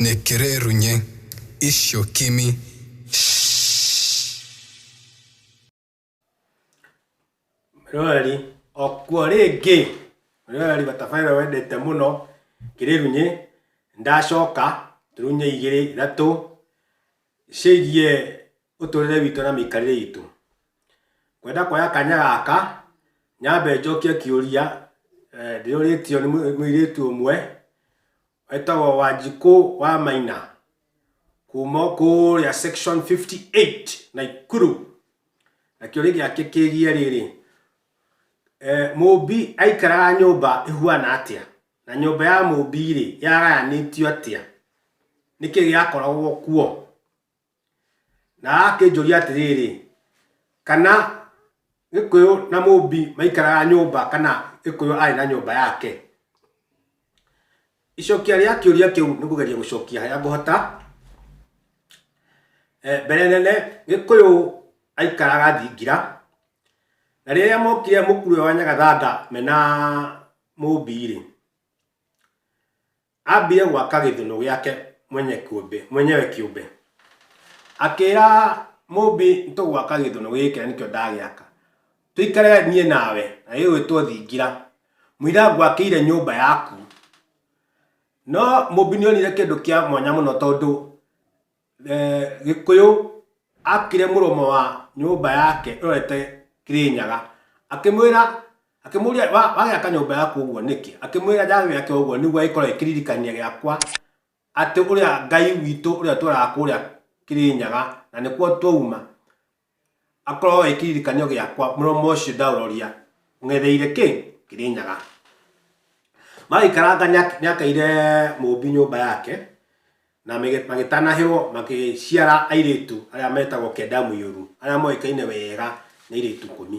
nekere runye isho kimi Rwari okuo rĩngĩ Rwari batabaĩra wendete mũno kĩrĩrunyĩ ndacoka tũrunye igĩrĩ ithatũ ciĩgiĩ ũtũrĩre witũ na mĩikarĩre itũ. Ngwenda kuoya kanya gaka nyambe njokie kĩũria ndĩũrĩtio nĩ mũirĩtu ũmwe wetagwo Wanjikũ wa Maina kuma kũrĩa section 58 Naikuru na kĩũria gĩake kĩgiĩ rĩrĩ eh, mũmbi aikaraga nyũmba ĩhuana atĩa na nyũmba ya mũmbi rĩ yagayanĩtio atĩa nĩkĩ gĩakoragwo kuo Na akĩnjũria atĩrĩrĩ, kana Gĩkũyũ na Mũmbi maikaraga nyũmba kana Gĩkũyũ arĩ na nyũmba yake? Icokia rĩa kĩũria kĩu nĩ kũgeria gũcokia harĩa ngũhota. Eh, Mbere nene Gĩkũyũ aikaraga Thingira, na rĩrĩa mokire mũkuru ũyũ wa Nyagathanga me na Mũmbi-rĩ, Aambire gwaka gĩthũnũ gĩake mwenye kĩũmbe, mwenyewe kĩũmbe. Akĩra mũmbi nĩtũgwaka gĩthũnũ gĩkĩ na nĩkĩo ndagĩaka. Tũikare niĩ nawe na gĩgwĩtwo thingira. Mũira ngwakĩire nyũmba yaku. No mũmbi nĩonire kĩndũ kĩa mwanya mũno tondũ Gĩkũyũ akire mũromo wa nyũmba yake ĩrorete Kĩrĩnyaga, akĩmwĩra, akĩmũria wagĩaka nyũmba yaku ũguo nĩkĩ? Akĩmwĩra ndagĩaka ũguo nĩguo ĩkorwo ĩ kĩririkania gĩakwa atĩ ũrĩa Ngai witũ ũrĩa ũtũraga kũrĩa Kĩrĩnyaga na nĩkuo twauma, Akorwo wĩ kĩririkanio gĩakwa, mũromo ũcio ndauroria, ũng'etheire kĩ? Kĩrĩnyaga. Magĩikaranga nĩakaire mũũmbi nyũmba yake, na magĩtanahĩrwo magĩciara airĩtu arĩa metagwo Kedamuiru, arĩa moĩkaine wega nĩ airĩtu ikũmi.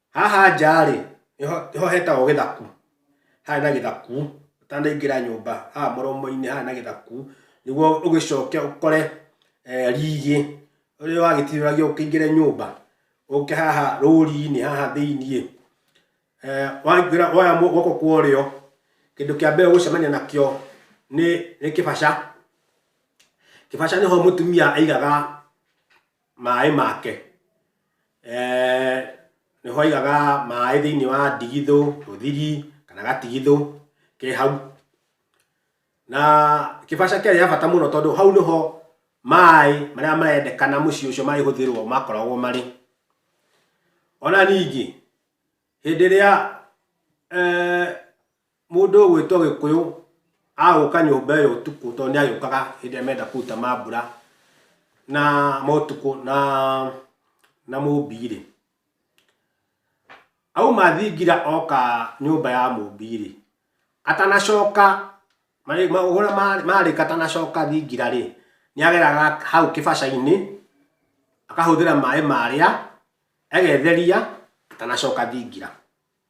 Haha nja-rĩ, nĩho hetagwo gĩthaku, haha hena gĩthaku, ũtanaingĩra nyũmba, haha mũromo-inĩ haha hena gĩthaku, nĩguo ũgĩcoke ũkore rigi, rĩrĩa wagĩtiũragia ũkĩingĩre nyũmba, ũke haha rũri-inĩ haha thĩiniĩ, waingĩra woya guoko kwa ũrĩo, kĩndũ kĩa mbere ũgũcemania nakĩo nĩ kĩbaca, kĩbaca nĩho mũtumia aigaga maĩ make. Eh, nĩ hoigaga maĩ thĩinĩ wa ndigithũ, rũthiri, kana gatigithũ ke hau. Na kĩbaca kĩarĩ ya bata mũno tondũ hau nĩho maĩ marĩa marendekana mũciĩ ũcio marĩhũthĩrwo makoragwo marĩ. Ona ningĩ, hĩndĩ ĩrĩa eh, Mũndũ ũgwĩtwo Gĩkũyũ agũka nyũmba ĩyo ũtukũ tondũ nĩagĩũkaga hĩndĩ ĩrĩa menda kũruta mambura na ma ũtukũ na na Mũmbi-rĩ, auma thingira oka nyũmba ya Mũmbi-rĩ, atanacoka ũrĩa marĩka atanacoka thingira-rĩ, nĩageraga hau kĩbaca-inĩ, akahũthĩra maĩ marĩa, egetheria, atanacoka thingira.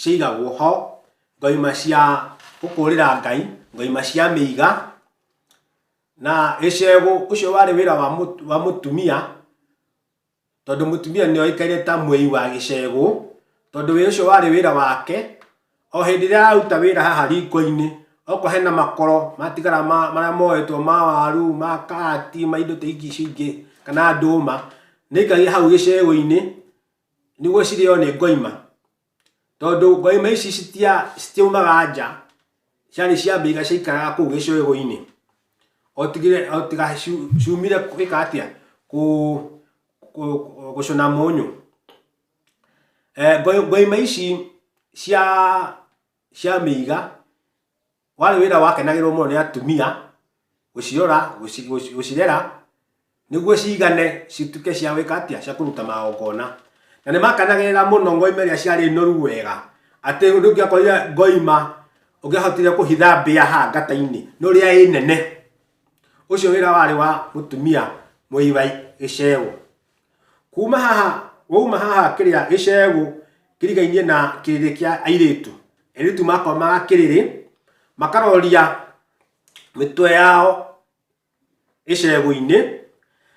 ciaigagwo ho, ngoima cia gũkũrĩra Ngai, ngoima cia mĩiga, na gĩcegũ ũcio warĩ wĩra wa mũtumia, tondũ mũtumia nĩ aikarire ta mwĩi wa gĩcegũ, tondũ wĩra ũcio warĩ wĩra wake, o hĩndĩ ĩrĩa araruta wĩra haha riko-inĩ, okorwo hena makoro matigara marĩa moetwo ma waru, ma kahati, ma indo ta ici ingĩ, kana ndũma, nĩ aikagia hau gĩcegũ-inĩ. nĩguo cirĩo nĩ ngoima tondũ ngoima ici citiaumaga nja ciarĩ ciambĩiga ciaikaraga kũu gĩcũĩgũ-inĩ otiga ciumire gwĩka atĩa gũcũna mũnyũ. Ngoima ici cia mĩiga... Warĩ wĩra wakenagĩrwo mũno nĩ atumia, gũcirora, gũcirera, nĩguo cigane cituĩke cia gwĩka atĩa, cia kũruta magongona. Na nĩ makenagĩrĩra mũno ngoima iria ciarĩ noru wega, atĩ rĩu ndũngĩakorire ngoima ũngĩahotire kũhitha mbĩa haha ngata-inĩ, nĩ ũrĩa ĩ nene. Ũcio wĩra warĩ wa mũtumia mũigai gĩcegũ. kuma haha wauma haha kĩrĩa gĩcegũ kĩrigainie na kĩrĩrĩ kĩa airĩtu airĩtu makomaga kĩrĩrĩ makaroria mĩtwe yao icegũ-inĩ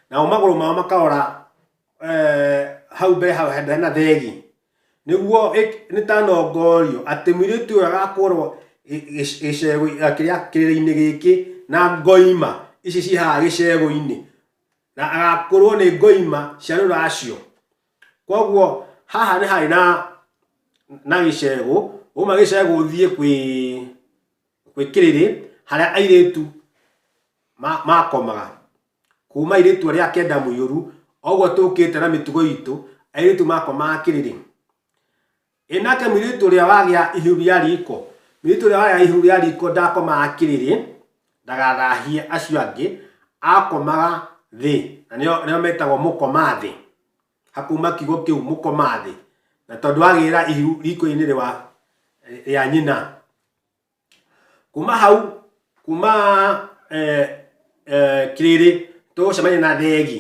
nao magũrũ mao makarora eh, hau mbere hau hena hena thegi nĩguo ĩ- nĩtanongorio atĩ mũirĩtu ũyũ agakorwo gĩ- gĩ- gĩcegũ- eh, kĩrĩa- kĩrĩrĩ-inĩ gĩkĩ na ngoima ici ciĩ haha gĩcegũ-inĩ na agakũrwo nĩ ngoima cia rũracio koguo haha nĩ harĩ na na gĩcegũ uma gĩcegũ ũthiĩ kwĩ kwĩ kĩrĩrĩ harĩa airĩtu ma- makomaga kuma irĩtua rĩa kenda mũiyũru oguo tũkĩte na mĩtugo itũ airĩtu makomaga kĩrĩrĩ Ĩ nake mũirĩtu ũrĩa wagĩa ihu rĩa riko, mũirĩtu ũrĩa wagĩa ihu rĩa riko ndakomaga kĩrĩrĩ, ndagathahie acio angĩ, akomaga thĩ, na nĩo nĩo metagwo mũkoma thĩ. Hakauma kiugo kĩu mũkoma thĩ. Na tondũ agĩra ihu riko-inĩ rĩwa rĩa nyina. Kuma hau, kuma eh, eh, kĩrĩrĩ tũgũcemania na thegi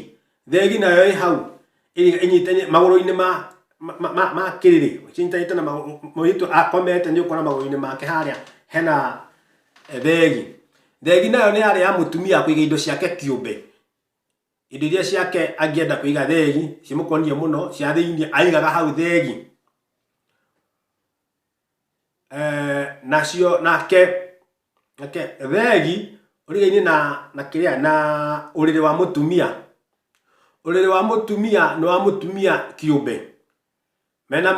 thegi nayo ĩ hau ĩ- ĩnyitanye magũrũ-inĩ ma ma- ma- ma- ma kĩrĩrĩ cinyitanĩte na magũrũ mũirĩtu akomete nĩ ũkuona magũrũ-inĩ make harĩa hena eh, thegi thegi nayo nĩ yarĩ ya mũtumia kũiga indo ciake kĩũmbe indo iria ciake angĩenda kũiga thegi cimũkoniĩ mũno cia thĩinĩ aigaga hau thegi eh, nacio nake nake thegi ũrigainĩ na na kĩrĩa na ũrĩrĩ wa mũtumia ũrĩrĩ wa mũtumia nĩ wa mũtumia kĩũmbe mena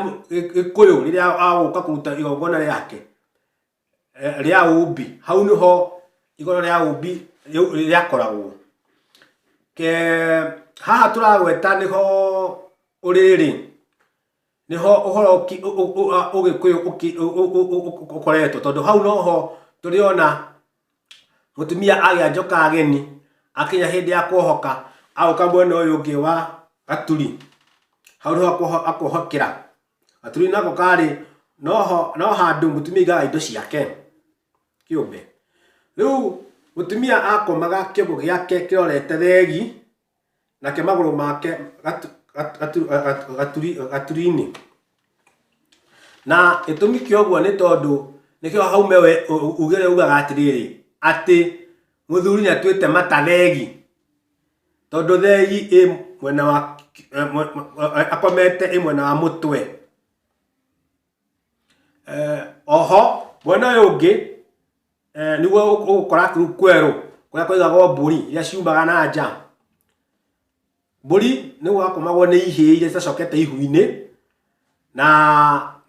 gĩkũyũ rĩrĩa agũka kũruta igongona rĩake eh, rĩa ũmbi hau nĩho igongona rĩa ũmbi rĩakoragwo haha tũragweta nĩho ũrĩrĩ nĩho ũhoro ũgĩkũyũ ũkoretwo, tondũ hau noho tũrĩona mũtumia agĩa njoka ageni, akinya hĩndĩ ya kwohoka agũka mwena ũyũ ũngĩ wa gaturi, hau nĩho akwohokera, gaturi nako karĩ, no handũ mũtumia aigaga indo ciake kĩũmbe. Rĩu mũtumia akomaga kĩũngũ gĩake kĩrorete thegi. nake magũrũ make gatu- gatu- gatu- gatu- gaturi- gaturi-inĩ na gĩtũmi kĩa ũguo nĩ tondũ nĩkĩo hau mewe ugĩre ugaga atĩrĩrĩ atĩ mũthuri nĩ atuĩte mata thegi tondũ thegi ĩ mwena wa eh, mwe- mwe- eh, akomete ĩ mwena wa mũtwe Eh, oho mwena ũyũ ũngĩ eh, nĩguo ũgũkora kĩu kwerũ kũrĩa kũigagwo mbũri iria ciumaga na nja mbũri nĩ gwakomagwo nĩ ihĩĩ iria citacokete ihu-inĩ na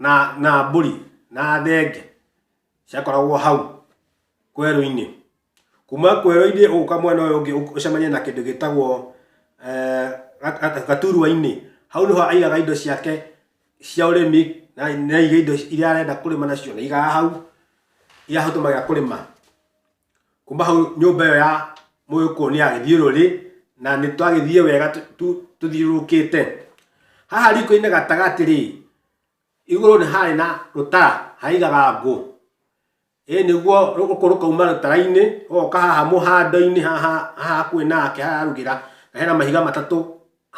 na na mbũri na thenge ciakoragwo hau kwerũ-inĩ Kuma kwĩ rũinĩ ũgũka mwena ũyũ ũngĩ ũcemanie na kĩndũ gĩtagwo eh, gaturuainĩ hau nĩho aigaga indo ciake cia ũrĩmi na aiga indo iria arenda kũrĩma nacio na igaga hau iria ahũthĩraga kũrĩma kuma hau nyũmba ĩyo ya mũgĩkũyũ nĩ agĩthiĩ rũrĩ na nĩ twagĩthiĩ wega tũthiũrũrũkĩte haha riko-inĩ gatagatĩ rĩ igũrũ nĩ harĩ na rũtara haigaga ngũ Ĩĩ nĩguo rũkũ rũkauma rũtara-inĩ, rũgoka haha mũhando-inĩ haha hakuhĩ nake harĩa ararugĩra, na hena mahiga matatũ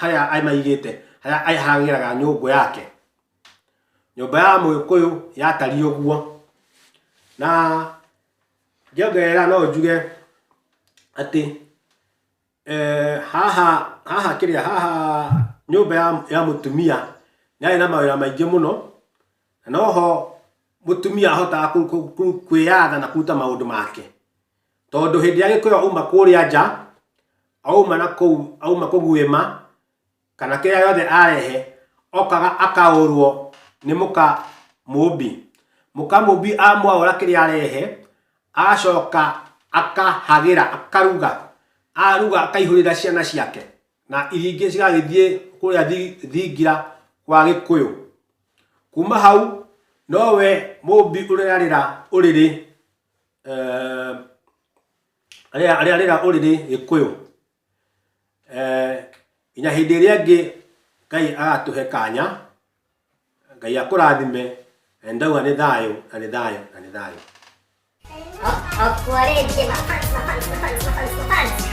harĩa amaigĩte, harĩa arĩharagĩra nyũngũ yake. Nyũmba ya mũgĩkũyũ yatariĩ ũguo. Na ngĩongerera no njuge atĩ... Eh, haha haha kĩrĩa haha nyũmba ya, ya mũtumia yarĩ na mawĩra maingĩ mũno na noho mũtumia ahotaga kũ- kũ- kũ- kwĩyatha na kũruta maũndũ make tondũ hĩndĩ ĩrĩa gĩkũyũ auma kũrĩa nja auma na kũu auma kũguĩma kana kĩrĩa yothe arehe okaga akaũrwo nĩ mũka mũmbi mũka mũmbi amwaũra kĩrĩa arehe agacoka akahagĩra akaruga aruga akaihũrĩra ciana ciake na iria ingĩ cigagĩthiĩ kũrĩa thi- thingira kwa gĩkũyũ kuma hau nowe mũmbi ũrĩarĩra ũrĩrĩ eh, arĩa arĩa rĩra ũrĩrĩ gĩkũyũ eh, nginya hĩndĩ ĩrĩa ĩngĩ ngai agatũhe kanya ngai akũrathime na nĩ ndauga nĩ thayũ na nĩ thayũ na nĩ thayũ Wareje mafans, mafans, mafans, mafans, mafans.